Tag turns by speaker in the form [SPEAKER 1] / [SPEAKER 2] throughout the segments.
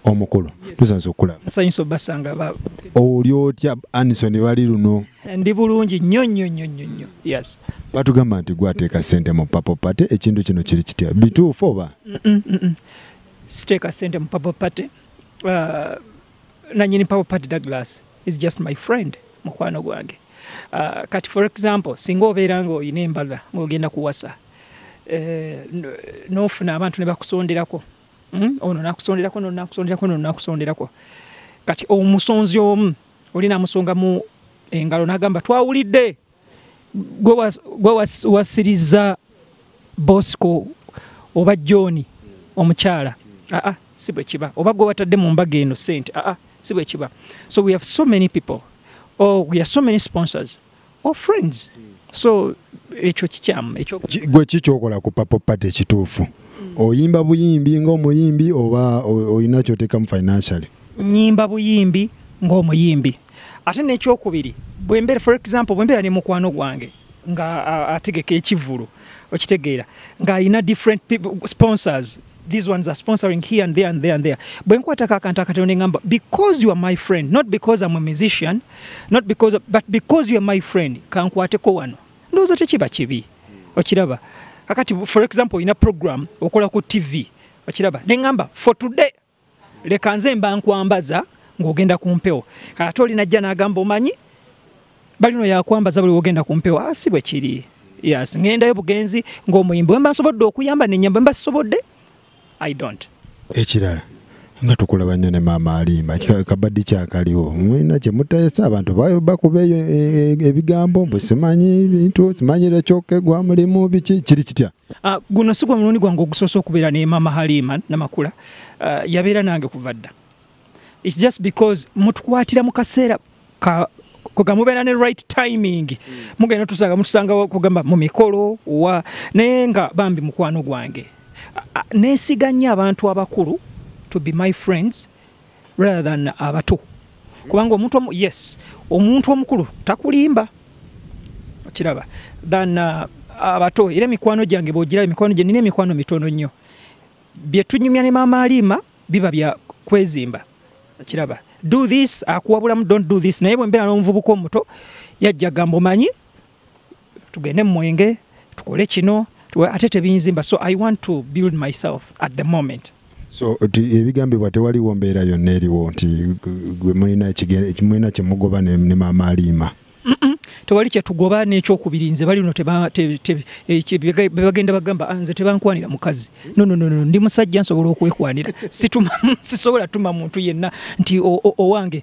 [SPEAKER 1] omukulu tusanze okulaba nsanyusa obasanga ba
[SPEAKER 2] oli otya
[SPEAKER 1] anison bali luno ndi bulungi
[SPEAKER 2] nnyo nnyo nnyo nnyo nnyo yes batugamba nti
[SPEAKER 1] gwateeka sente mu papo pate ekintu kino kiri kitya bituufu oba
[SPEAKER 2] siteeka sente mu papo pate uh, nanyini power party douglas is just my friend mukwano gwange uh, kati for example singa obeera ngaolina embaga ngaogenda kuwasa eh, nofuna abantu nebakusonderako hmm? ono nakusonderako no nakusonderako no nakusonderako kati omusonzi omu olina musonga mu engalo nagamba twawulidde gwe wasirizza bosco oba john omukyala aa ah, ah, si bwe kiba oba gwe watadde mu mbaga eno sente aa ah, si bwe kiba so we have so many people or oh, we have so many sponsors or oh, friends so ekyo kikyamu gwe kikyokola
[SPEAKER 1] ku papo pate ekituufu mm. oyimba buyimbi ngaomuyimbi oba olina kyoteekamu financially nyimba
[SPEAKER 2] buyimbi ngaomuyimbi ate n'ekyokubiri bwembeera for example bwembeera ne mukwano gwange nga ategeka ekivulu okitegeera ng'alina different sponsors these ones are sponsoring here and there and there and there bwenkwatako akantu akatono nengamba because you are my friend not because I'm a musician not because of, but because you are my friend kankwateko wano ndowooza tekiba kibi okiraba kakati for example olina program okola ku tv okiraba nengamba for today leka nze mba nkwambaza ng'ogenda ku mpewo ate oli najja n'agamba omanyi balino yakwambaza buli wogenda ku mpewo ah, si bwe kiri yes ŋendayo bugenzi ng'omuyimbi wemba nsobodde okuyamba nenyamba emba sisobodde i don't ekirala
[SPEAKER 1] nga tukulaba nnyo ne maama aliima kabaddi kyakaliwo mwina kyemutayesa abantu bakubeeyo e, e, ebigambo bwe simanyi bintu simanyire kyoka egwa mulimu biki kiri kitya Uh, guno sigwa mulundi
[SPEAKER 2] gwange ogusoose okubeera ne mama halima namakula uh, yabeera nange kuva dda its just because mutukwatira mu kaseera ka koga mubeera ne right timing mm. mugenda tusanga mutusanga kugamba mu mikolo wa naye nga bambi mukwano gwange uh, uh, nesiga nnyo abantu abakulu to be my friends rather than abato kubanga omuntu omu yes omuntu omukulu takulimba okiraba than uh, abato era emikwano gyange bwogira emikwano gye nina emikwano mitono nnyo byetunyumya ne maama aliima biba bya kwezimba okiraba do this akuwabulamu don't do this naye bwembeera n'omuvubuka omuto yajja gamba omanyi tugende mumwenge tukole kino ate tebinzimba so i want to build myself at the moment so
[SPEAKER 1] ebigambibwa tewaliwo mbeera yonna eriwo nti gwe mulina kyemugoba ne maama aliima tewali
[SPEAKER 2] kyetugoba nekyokubiri nze bali no bebagenda bagamba ah, nze tebankwanira mukazi nononono ndi musajja nsobola okwekwanira sisobola tuma muntu yenna nti owange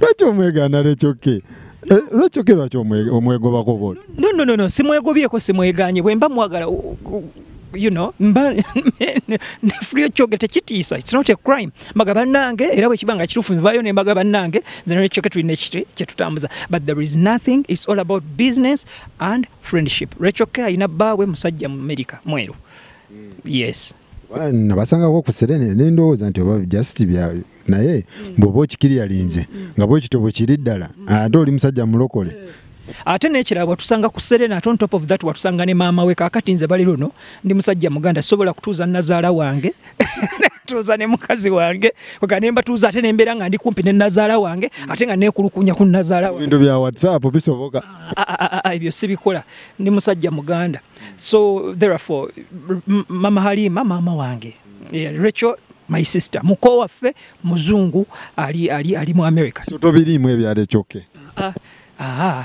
[SPEAKER 1] lwaki omwegaana lekyoke eh, lwaki oke lwaki omwegobako bol no no no no simwegobyeko
[SPEAKER 2] simweganye bwemba mwagala you know mba nefulyo kyoge tekitiisa it's not a crime mbaga bannange era bwekiba nga kituufu nvayo ne mbaga bannange zenekyoke tulina ekiti kyetutambuza but there is nothing it's all about business and friendship rekyoke alina bbaawe musajja mu america mweru yes nabasangako
[SPEAKER 1] ku serene nendowooza nti oba just bya naye bwoba okikiri yalinze nga bwekito bwekiri ddala ate oli musajja mulokole ate nekirala
[SPEAKER 2] watusanga ku serena ate on top of that watusanga ne maama we kakati nze bali luno ndi musajja muganda sobola kutuuza nazaala wange tuuza ne mukazi wange oga nemba tuuza ate nembeera nga ndi kumpi ne nazaala wange ate nga nekulukunya ku nazaala wange ebintu bya whatsapp
[SPEAKER 1] bisoboka ah, ah, ah, ebyo
[SPEAKER 2] sibikola ndi musajja muganda so therefore mama halima maama wange yeah, rachel my sister muko waffe muzungu ali, ali, ali mu america so tobiriimu ebyalo
[SPEAKER 1] ekyoke ah, ah.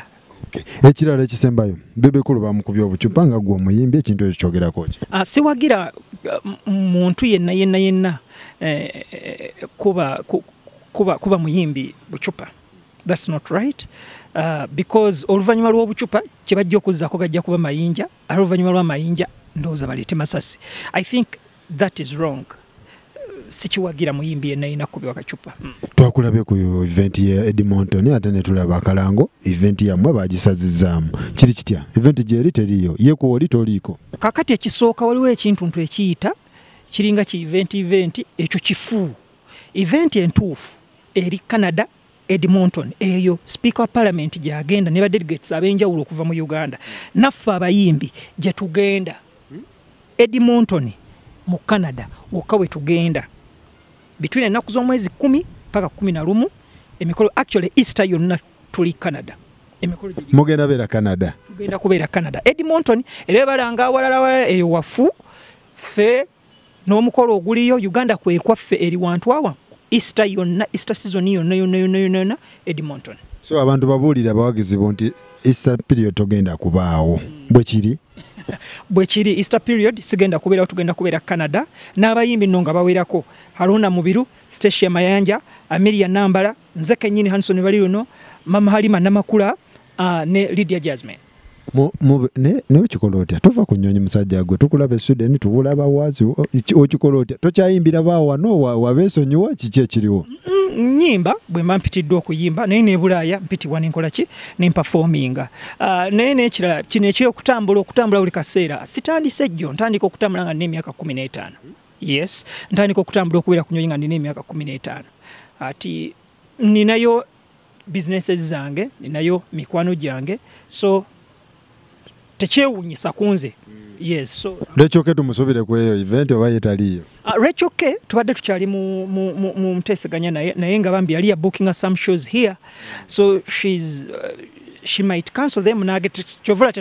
[SPEAKER 1] ekirala ekisembayo bebekulu bamukubya obucupa nga gwe omuyimbi ekintu ekyo kyogerako ki ah, siwagira
[SPEAKER 2] uh, muntu yenna yenna yenna eh, eh, kuba, kuba, kuba muyimbi bucupa That's not right. Uh, because oluvanyuma lw'obucupa kye bajja okuzzako gajja kuba mayinja ate oluvanyuma lwa mayinja ndowooza baleete masasi i think that is wrong uh, sikiwagira muyimbi yenna yina kubiwa kacupa hmm. twakulabye ku
[SPEAKER 1] event ya edmonton ate netulaba akalango event yammwe bagisazizaamu kiri kitya event gyeri teriyo yekuoli toliiko kakati ekisooka
[SPEAKER 2] waliwo ekintu ntu ekiyita kiringa ki event event ekyo kifu event entuufu eri canada Edmonton eyo speaker wa parliament gyagenda ne ba delegates abenjawulo okuva mu Uganda naffe abayimbi gye tugenda Edmonton mu Canada wokka we tugenda between ennaku z'omwezi kumi paka kumi na lumu emikolo actually Easter yonna tuli Canada emikolo mugenda beera Canada
[SPEAKER 1] tugenda kubeera Canada
[SPEAKER 2] Edmonton era balanga awalala eyo wafu ffe n'omukolo oguliyo uganda kwekwaffe eri wantu awa easter yonna easter season yonna yonna yonna yonna yonna edmonton so abantu babuulira
[SPEAKER 1] abawagizi bo nti easter period togenda kubaawo bwe kiri bwe
[SPEAKER 2] kiri easter period sigenda kubeerawo tugenda kubeera canada n'abayimbi nno nga bawerako haruna mubiru stacia mayanja amiria nambala nze kenyini hanson bali luno mama halima namakula uh, ne Lydia Jasmine
[SPEAKER 1] naye okikola otya tova ku nyonyi musajja gwe tukulaba esuden tubula bawazi okikola otya tokyayimbira bawano wabesonyiwa kiki ekiriwo nyimba
[SPEAKER 2] bwemba mpitiddwa okuyimba naye nebulaaya mpitibwa nenkola ki nempafominga ah, naye nekirala kino ekyokutambula okutambula buli kaseera sitandise jjo ntandika okutambula nga nina emyaka kumi n'etaano yes ntandika okutambula okubeera ku nyonyi nga nina emyaka kumi n'etaano ati ninayo businesses zange ninayo mikwano gyange so tekyewunyisa kunze lwekyoke tumusubire ku
[SPEAKER 1] eyo event oba yetaliyo ah, lwekyoke
[SPEAKER 2] tubadde tukyali mu nteseganya naye naye nga bambi yali yabookinga some shows here so shes uh, she might cancel them nage kyovula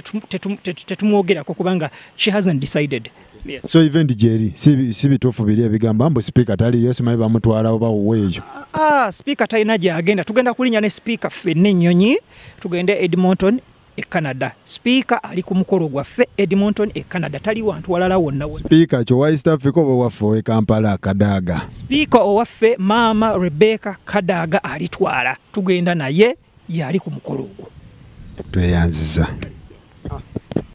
[SPEAKER 2] tetumwogerako kubanga she hasn't decided Yes. so event gyeri
[SPEAKER 1] si si bituufu biri ebigamba mbu sipiika taliyo simanyi bamutwala oba wuwe eyo Ah, sipiika talina
[SPEAKER 2] gyagenda tugenda kulinya ne sipiika ffenna ennyonyi tugende e edmonton e canada sipiika ali ku mukolo gwaffe edmonton e canada tali wantu walala wonna wonna sipiika kyowa east
[SPEAKER 1] africa oba owaffe owe kampala kadaaga sipiika owaffe
[SPEAKER 2] maama rebecca kadaaga alitwala tugenda naye yaali ku
[SPEAKER 1] mukolo
[SPEAKER 2] ogwo tweyanziza